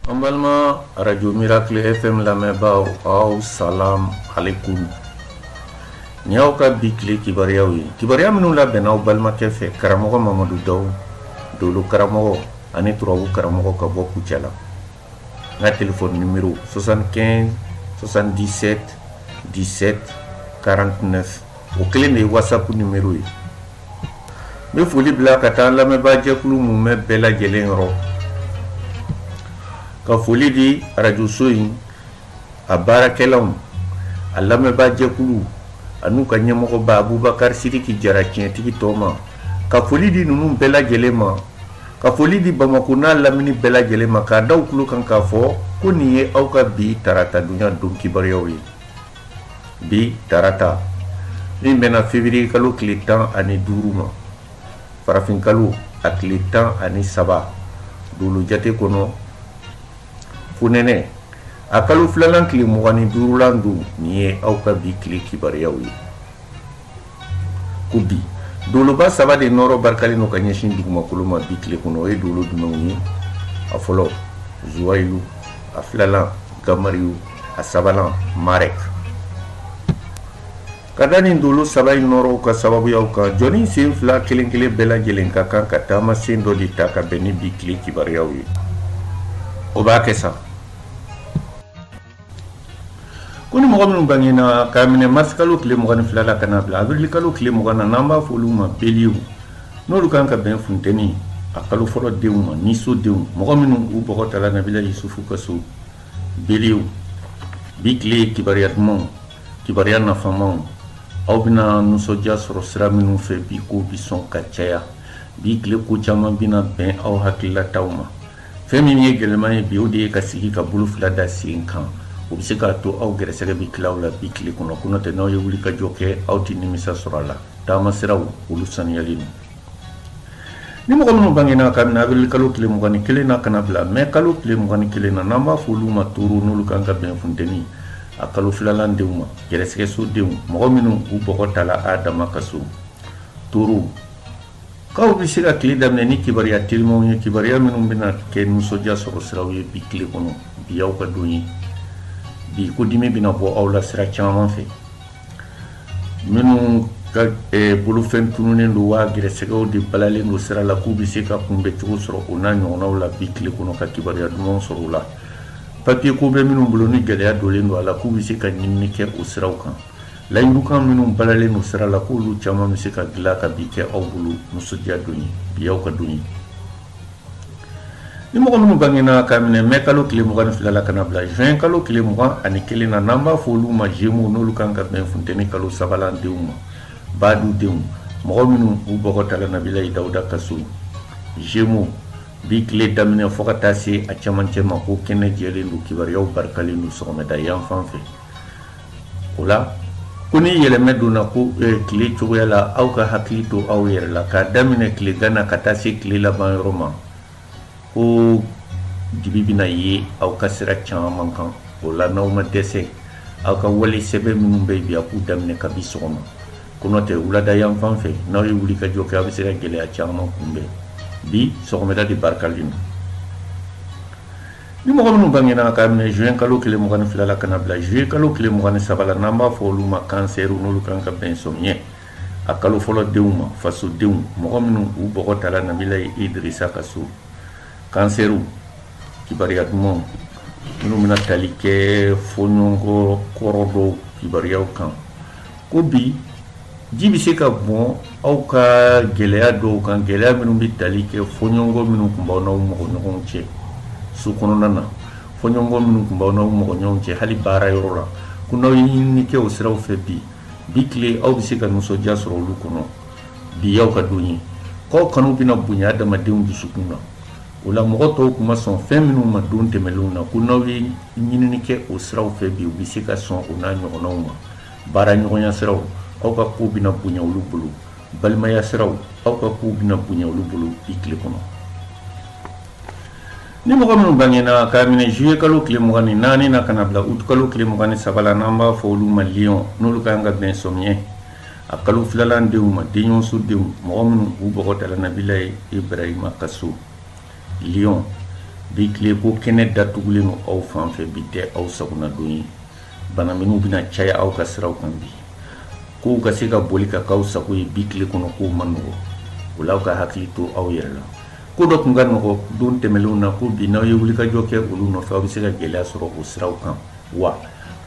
An balima radio miracle FM lamɛnbaaw aw salam aleyikum Nin y'aw ka bi tile kibaruyaw ye, kibaruya minnu labɛnna aw balimakɛ fɛ karamɔgɔ Mamadu Dawu, dolo karamɔgɔ ani turabu karamɔgɔ ka bɔ Kucala. N ka telefɔni nimero 75 77 17 49 o kelen de ye whatsapp nimero ye. bɛ foli bila ka taa lamɛnbaajɛkulu mumɛ bɛɛ lajɛlen yɔrɔ ka foli di arajoso in a baarakɛlaw a lamɛnbaajɛkulu an'u ka ɲɛmɔgɔba abubakari siriki jara tiɲɛtigi tɔ ma ka foli di ninnu bɛɛ lajɛlen ma ka foli di bamakɔ n'a lamini bɛɛ lajɛlen ma k'a da u tulo kan k'a fɔ ko nin ye aw ka bi tarata dunya don kibaruyaw ye bi tarata min bɛnna feburuye kalo tile tan ani duuru ma farafin kalo a tile tan ani saba dolo jate kɔnɔ fonɛnɛ a kalo filanan tile mugan ni duurulan don nin ye aw ka bi tile kibaruyaw ye ko bi doloba saba de nɔɔrɔ barikalen don ka ɲɛsin dugumakolo ma bi tile kɔnɔ o ye dolo jumɛnw ye a fɔlɔ zuwayilu a filalan gamariyu a sabanan marek ka da nin dolo saba in nɔɔrɔw ka sababuyaw kan jɔnnin sen fila kelen kelen bɛɛ lajɛlen ka kan ka taama sen dɔ de ta ka bɛn ni bi tile kibaruyaw ye o b'a kɛ sa ko ni mɔgɔ minnu bangena k'a minɛ marisikalo tile mugan ni fila la ka na bila abirilikalo tile mugan na n'an b'a fɔ olu ma beliw n'olu kan ka bɛn funteni a kalo fɔlɔ denw ma niso denw mɔgɔ minnu u bɔgɔ tala nabila yusufu ka so beliw bi tile ye kibaruya dumanw kibaruya nafamaw aw bɛna nisɔndiya sɔrɔ sira minnu fɛ bi k'o bi sɔn ka caya bi tile ko caman bɛna bɛn aw hakililataw ma fɛn min ye gɛlɛman ye bi o de ye ka sigi ka bolo fila da sen kan o bɛ se k'a to aw gɛrɛsɛgɛ bɛ tila aw la bi tile kɔnɔ ko n'o tɛ n'aw ye wuli ka jɔ kɛ aw tɛ nimisa sɔrɔ a la taama siraw olu saniyalen don ni mɔgɔ minnu bangena k'a minɛ awirili kalo tile mugan ni kelen na ka na bila mɛ kalo tile mugan ni kelen na n'an b'a fɔ olu ma toro n'olu kan ka bɛn funteni a kalo filalan denw ma gɛrɛsɛgɛso denw mɔgɔ minnu u bɔgɔ tala adama ka so toro K'aw bɛ se ka tile daminɛ ni kibaruya telimanw ye kibaruya minnu bɛna kɛ nisɔndiya sɔrɔ siraw ye bi tile kɔnɔ bi aw ka don ye bi ko dimi bɛna bɔ aw la sira caman fɛ minnu ka bolofɛn tununnen don wa gɛrɛsɛgɛw de balalen don sira la k'u bɛ se ka kunbɛn cogo sɔrɔ o n'a ɲɔgɔnnaw la bi tile kɔnɔ ka kibaruya dumanw sɔrɔ u la papiye ko bɛ minnu bolo ni gɛlɛya donlen don a la k'u bɛ se ka ɲinini kɛ o siraw kan layidukan minnu balalen don sira la k'olu caman bɛ se ka dilan ka bi kɛ aw bolo nisɔndiya don ye bi aw ka don ye ni mɔgɔ minnu bangena k'a minɛ mɛ kalo tile mugan ni fila la ka na bila juin kalo tile mugan ani kelen na n'an b'a fɔ olu ma gémeaux n'olu kan ka bɛn funteni kalo sabanan denw ma badu denw mɔgɔ minnu u bɔgɔ tala nabilayi dawuda ka so gémeaux bi tile daminɛ fɔɔ ka taa se a camancɛ ma ko kɛnɛ jɛlen don kibaruyaw barikalen don sɔgɔmada yan fan fɛ o la ko ni yɛlɛmɛ donna ko eh, tile cogoya la aw ka hakili to aw yɛrɛ la k'a daminɛ tile gana ka taa se tile laban yɔrɔ ma ko dibi bɛna ye aw ka sira caman kan o la n'aw ma dɛsɛ aw ka wale sɛbɛ minnu bɛ bi a k'u daminɛ kabi sɔgɔma ko n'o tɛ wulada yan fan fɛ n'aw ye wulikajɔ kɛ aw bɛ se ka gɛlɛya caman kunbɛn bi sɔgɔmada de barikalen don Ni mɔgɔ minnu bangena k'a minɛ juin kalo tile mugan ni fila la ka na bila juillet kalo tile mugan ni saba la n'an b'a fɔ olu ma cancer n'olu kan ka bɛn sɔmiyɛ a kalo fɔlɔ denw ma fasodenw mɔgɔ minnu u bɔgɔ tala nabilayi idirisa ka so cancer kibaruya dumanw minnu bɛna tali kɛ fɔɲɔgɔnkɔ kɔrɔ dɔw kibaruyaw kan ko bi Ji bɛ se ka bɔn aw ka gɛlɛya dɔw kan gɛlɛya minnu bɛ tali kɛ fɔɲɔgɔnkɔ minnu tun b'aw n'aw mɔgɔ ɲɔgɔnw cɛ so kɔnɔna na fɔɲɔgɔnkɔ minnu tun b'aw n'aw mɔgɔ ɲɔgɔnw cɛ hali baara yɔrɔ la ko n'aw ye ɲinini kɛ o siraw fɛ bi bi tile aw bɛ se ka nisɔndiya sɔrɔ olu kɔnɔ bi y'aw ka don ye k'aw kanu bɛna bonya adamadenw dusukun na o la mɔgɔ tɔw tun ma sɔn fɛn minnu ma don tɛmɛnlenw na ko n'aw ye ɲinini kɛ o siraw fɛ bi u bɛ se ka sɔn o n'a ɲɔgɔnnaw ma baara ɲɔgɔnya siraw aw ka kow bɛna bonya olu bolo balimaya siraw aw ka kow bɛna bonya olu bolo bi tile kɔnɔ ni mɔgɔ minnu bangena k'a minɛ juillet kalo tile mugan ni naani na ka na bila août kalo tile mugan ni saba la n'an b'a fɔ olu ma lion n'olu kan ka bɛn sɔmiɲɛ a kalo filanan denw ma denɲɔgɔnso denw mɔgɔ minnu u bɔgɔ tala nabilayi ibrahima ka so lion bi tile ko kɛnɛ datugulen don aw fan fɛ bi tɛ aw sagona don ye bana minnu bɛna caya aw ka siraw kan bi kow ka se ka boli ka k'aw sago ye bi tile kɔnɔ kow man nɔgɔ o la aw ka hakili to aw yɛrɛ la ko dɔ tun ka nɔgɔ don tɛmɛnlenw na ko bi n'aw ye wulikajɔ kɛ olu nɔfɛ aw bɛ se ka gɛlɛya sɔrɔ o siraw kan wa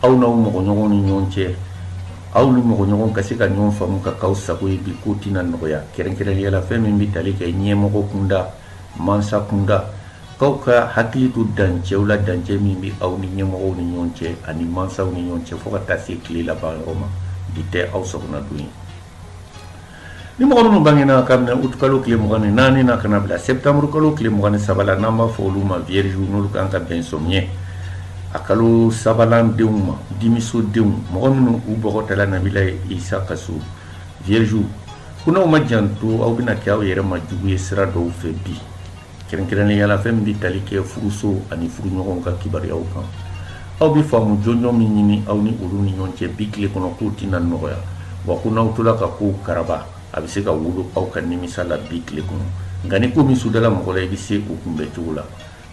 aw n'aw mɔgɔɲɔgɔnw ni ɲɔgɔn cɛ aw ni mɔgɔɲɔgɔn ka se ka ɲɔgɔn faamu ka k'aw sago ye bi ko tɛna nɔgɔya kɛrɛnkɛrɛnnenya la fɛn min bɛ tali kɛ ɲɛmɔgɔ kunda mansa kunda k'aw ka hakili to dancɛw la dancɛ min bɛ aw ni ɲɛmɔgɔw ni ɲɔgɔn cɛ ani mansaw ni ɲɔgɔn cɛ fo ka taa se tile laban yɔrɔ ma bi tɛ aw sago na don ye ni mɔgɔ minnu bangena kabini août kalo tile mugan ni naani na ka na bila septembre kalo tile mugan ni saba la n'an b'a fɔ olu ma vierge n'olu kan ka bɛn samiɲɛ a kalo sabanan denw ma dimiso denw mɔgɔ minnu u bɔgɔ tala nabilayi isa ka so vierge ko n'aw ma janto aw bɛna kɛ aw yɛrɛ ma jugu ye sira dɔw fɛ bi kɛrɛnkɛrɛnnenya la fɛn min bɛ tali kɛ furuso ani furuɲɔgɔnw ka kibaruyaw kan aw bɛ faamu jɔnjɔn min ɲini aw ni olu ni ɲɔgɔn cɛ bi tile kɔnɔ k'o tɛna nɔgɔya wa ko n'aw tola ka kow karaba a bɛ se ka wolo aw ka nimisa la bi tile kɔnɔ nka ni ko min sudala mɔgɔ la i bɛ se o kunbɛn cogo la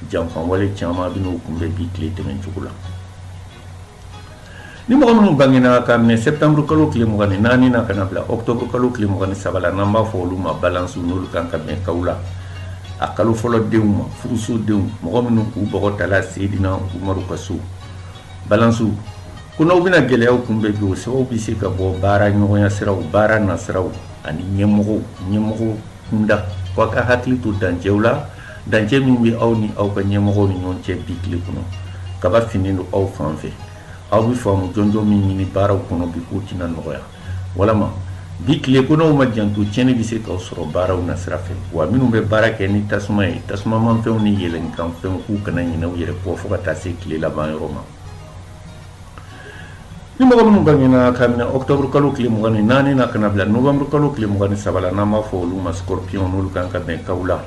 janfanwale caman bɛ n'o kunbɛn bi tile tɛmɛn cogo la Ni mɔgɔ minnu bangena ka minɛ septembre kalo tile mugan ni naani na ka na bila octobre kalo tile mugan ni saba la n'an b'a fɔ olu ma balance n'olu kan ka bɛn kaw la a kalo fɔlɔ denw ma furusodenw mɔgɔ minnu k'u bɔgɔ tala seydina umaru ka so balansiw ko n'aw bɛna gɛlɛya kunbɛn bi o sababu bɛ se ka bɔ baara ɲɔgɔnya siraw baara nasiraw ani ɲɛmɔgɔ ɲɛmɔgɔ kunda aw ka hakili to dancɛw la Dancɛ min bɛ aw ni aw ka ɲɛmɔgɔw ni ɲɔgɔn cɛ bi tile kɔnɔ kaba finnen don aw fan fɛ aw bɛ faamu jɔnjɔn min ɲini baaraw kɔnɔ bi k'o tɛna nɔgɔya walama bi tile ko n'aw ma janto tiɲɛni bɛ se k'aw sɔrɔ baaraw nasira fɛ wa minnu bɛ baara kɛ ni tasuma ye tasumamanfɛnw ni yɛlɛnkanfɛnw k'u kana ɲinɛ u yɛrɛ kɔ fo ka taa se tile laban yɔrɔ ma Ni mɔgɔ minnu bangena ka minɛ octobre kalo tile mugan ni naani na ka na bila novembre kalo tile mugan ni saba la n'an b'a fɔ olu ma scorpion n'olu kan ka bɛn kaw la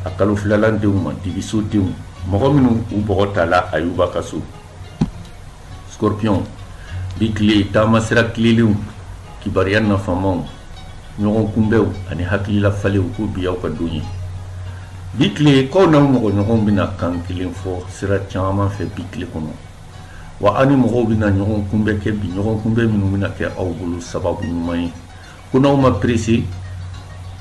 a kalo filalan denw ma dibisodenw mɔgɔ minnu u bɔgɔ tala ayuba ka so scorpion bi tile taama sira tilelenw kibaruya nafamaw ɲɔgɔn kunbɛnw ani hakilila falenw ko bi y'aw ka don ye bi tile k'aw n'aw mɔgɔ ɲɔgɔnw bɛna kan kelen fɔ sira caman fɛ bi tile kɔnɔ wa aw ni mɔgɔw bɛna ɲɔgɔn kunbɛ kɛ bi ɲɔgɔn kunbɛ minnu bɛna kɛ aw bolo sababu ɲuman ye ko n'aw ma perese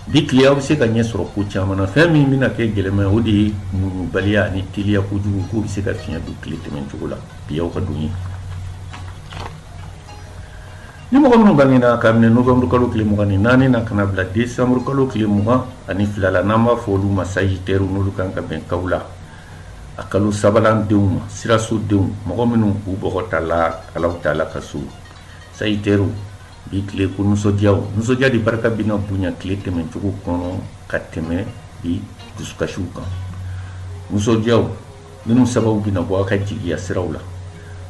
bi tile aw bɛ se ka ɲɛ sɔrɔ ko caman na fɛn min bɛna kɛ gɛlɛma ye o de ye muɲubaliya ani teliya kojugu k'o bɛ se ka fiɲɛ don tile tɛmɛn cogo la bi aw ka don ye ni mɔgɔ minnu bangena ka minɛ novembre kalo tile mugan ni naani na ka na bila décembre kalo tile mugan ani fila la n'an b'a fɔ olu ma sagitɛriw n'olu kan ka bɛn kaw la a kalo sabanan denw ma siraso denw mɔgɔ minnu u bɔgɔ tala alahu taala ka so sagitɛriw bi tile ko nisɔndiya nisɔndiya de barika bɛna bonya tile tɛmɛcogo kɔnɔ ka tɛmɛ bi dusukasiw kan nisɔndiya minnu sababu bɛna bɔ aw ka jigiya siraw la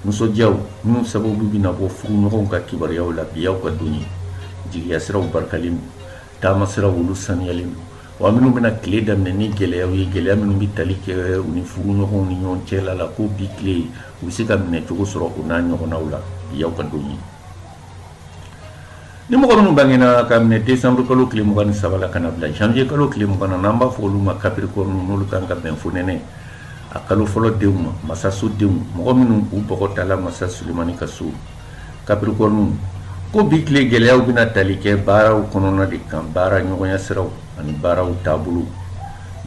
nisɔndiya minnu sababu bɛna bɔ furuɲɔgɔnw ka kibaruyaw la bi y'aw ka don ye jigiya siraw barikalen don taama siraw olu saniyalen don Wa minnu bɛna tile daminɛ ni gɛlɛya ye gɛlɛya minnu bɛ tali kɛ u ni furuɲɔgɔnw ni ɲɔgɔn cɛ la la ko bi tile u bɛ se ka minɛcogo sɔrɔ o n'a ɲɔgɔnnaw la bi y'aw ka don ye ni mɔgɔ minnu bangena ka minɛ décembre kalo tile mugan ni saba la ka na bila janvier kalo tile mugan na n'an b'a fɔ olu ma capricorne n'olu kan ka bɛn fonɛnɛ a kalo fɔlɔ denw ma masaso denw mɔgɔ minnu u bɔgɔ tala masa sulemani ka so Capricorne ko bi tile gɛlɛyaw bɛna tali kɛ baaraw kɔnɔna de kan baara ɲɔgɔnya siraw ani baaraw taabolow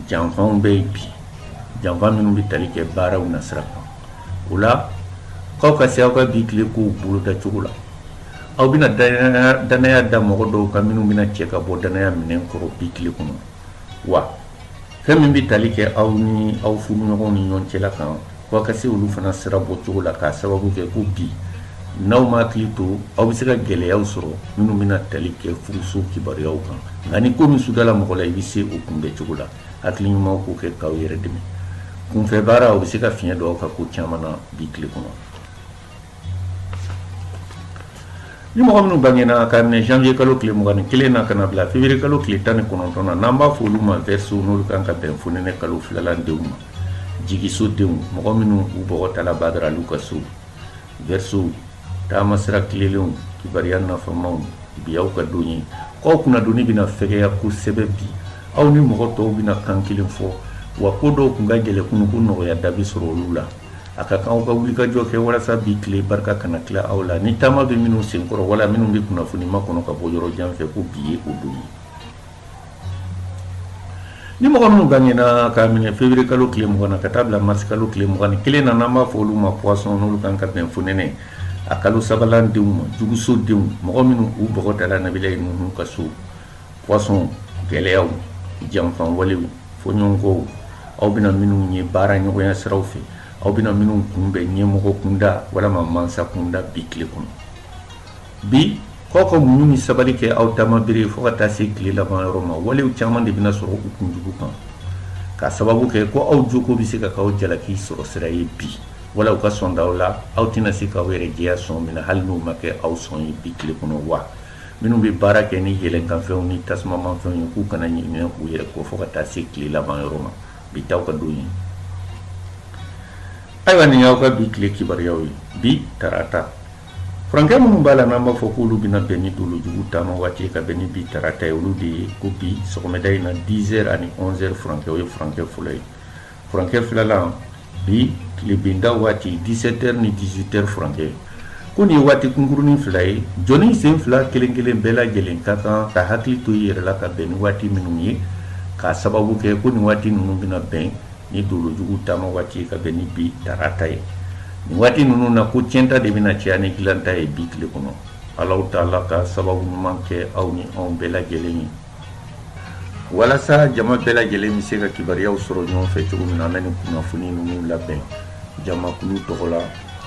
janfanw bɛ yen bi janfan minnu bɛ tali kɛ baaraw nasira kan o la k'aw ka se aw ka bi tile kow boloda cogo la aw bɛna dannaya da mɔgɔ dɔw kan minnu bɛna cɛ ka bɔ dannaya minɛn kɔrɔ bi tile kɔnɔ wa fɛn min bɛ tali kɛ aw ni aw furuɲɔgɔnw ni ɲɔgɔn cɛla kan ko aw ka se olu fana sira bɔ cogo la k'a sababu kɛ ko bi n'aw ma hakili to aw bɛ se ka gɛlɛyaw sɔrɔ minnu bɛna tali kɛ furuso kibaruyaw kan nka ni ko min sudala mɔgɔ la i bɛ se o kunbɛn cogo la hakili ɲuman k'o kɛ k'aw yɛrɛ dɛmɛ kunfɛ baara o bɛ se ka fiɲɛ don aw ka ko caman na bi tile kɔnɔ ni mɔgɔ minnu bangena ka minɛ janvier kalo tile mugan ni kelen na ka na bila février kalo tile tan ni kɔnɔntɔn na n'an b'a fɔ olu ma verseau n'olu kan ka bɛn fonɛnɛ kalo filalan denw ma jigisodenw mɔgɔ minnu u bɔgɔ tala badara alu ka so verseau taama sira tilenlenw kibaruya nafamaw bi y'aw ka don ye k'aw kunnadoni bɛna fɛgɛya kosɛbɛ bi aw ni mɔgɔ tɔw bɛna kan kelen fɔ wa ko dɔw tun ka gɛlɛn kunun ko nɔgɔya da bɛ sɔrɔ olu la a ka kan aw ka wuli ka jɔ kɛ walasa bi tile barika kana tila aw la ni taama bɛ minnu senkɔrɔ wala minnu bɛ kunnafoni makɔnɔ ka bɔ yɔrɔ jan fɛ ko bi ye o don ye ni mɔgɔ minnu bangena k'a minɛ février kalo tile mugan na ka taa bila mars kalo tile mugan ni kelen na n'an b'a fɔ olu ma poisson n'olu kan ka bɛn fonɛnɛ a kalo sabalan denw ma juguso denw mɔgɔ minnu u bɔgɔ tala nabilayi nuhun ka so poisson gɛlɛyaw janfan walew fɔɲɔgɔnkɔw aw bɛna minnu ye baara ɲɔgɔnya siraw fɛ aw bɛna minnu kunbɛn ɲɛmɔgɔ kunda walima mansa kunda bi tile kɔnɔ bi k'aw ka muɲu ni sabali kɛ aw dama bere fo ka taa se tile laban yɔrɔ ma walew caman de bɛna sɔrɔ u kunjugu kan k'a sababu kɛ ko aw joko bɛ se ka k'aw jalaki sɔrɔ sira ye bi wala u ka sɔn d'aw la aw tɛna se k'aw yɛrɛ jɛya sɔn min na hali n'o ma kɛ aw sɔn ye bi tile kɔnɔ wa Minnu bɛ baara kɛ ni yɛlɛnkanfɛnw ni tasumamanfɛnw ye k'u kana ɲinɛ u yɛrɛ kɔ fo ka taa se tile laban yɔrɔ ma bi t'aw ka don ye ayiwa nin y'aw ka bi tile kibaruyaw ye bi tarata furankɛ minnu b'a la n'an b'a fɔ k'olu bɛna bɛn ni dolojugu taama waati ka bɛn ni bi tarata ye olu de ye ko bi sɔgɔmada in na 10h ani 11h furankɛ o ye furankɛ fɔlɔ ye Furankɛ filala bi tilebinda waati dix-sept heures ni dix-huit heures furankɛ ko nin ye waati kunkurunnin fila ye jɔnni sen fila kelen kelen bɛɛ lajɛlen ka kan ka hakili to i yɛrɛ la ka bɛn ni waati minnu ye k'a sababu kɛ ko nin waati ninnu bɛna bɛn ni dolojugu taama waati ye ka bɛn ni bi tarata ye nin waati ninnu na ko tiɲɛta de bɛna caya ni dilanta ye bi tile kɔnɔ ala ta'ala ka sababu ɲuman kɛ aw ni anw bɛɛ lajɛlen ye walasa jama bɛɛ lajɛlen bɛ se ka kibaruyaw sɔrɔ ɲɔgɔn fɛ cogo min na an bɛ nin kunnafoni ninnu labɛn jamakulu tɔgɔ la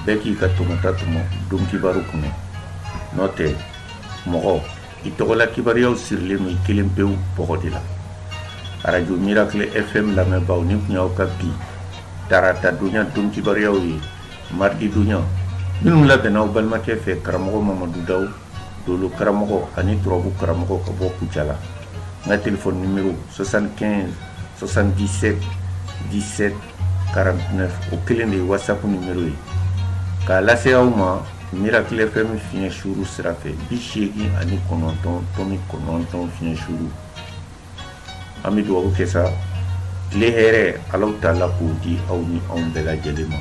bɛɛ k'i ka tɔmɔta tɔmɔ don kibaru kunna n'o tɛ mɔgɔ i tɔgɔla kibaruyaw sirilen don i kelen pewu bɔgɔ de la arajo miracle fm lamɛnbaaw nin tun y'aw ka bi tarata donya don kibaruyaw ye maridi donya minnu labɛnna aw balimakɛ fɛ karamɔgɔ mamadu daw Dolo karamɔgɔ ani turabu karamɔgɔ ka bɔ kucala n ka telefɔni numéro soixante-quinze soixante-dix-sept dix-sept quarante-neuf o kelen de ye whatsapp numéro ye k'a lase aw ma miracle fm fiɲɛ suru sira fɛ bi seegin ani kɔnɔntɔn tomi kɔnɔntɔn fiɲɛ suru an bɛ dugawu kɛ sa tile hɛrɛ ala ta'ala k'o di aw ni anw bɛɛ lajɛlen ma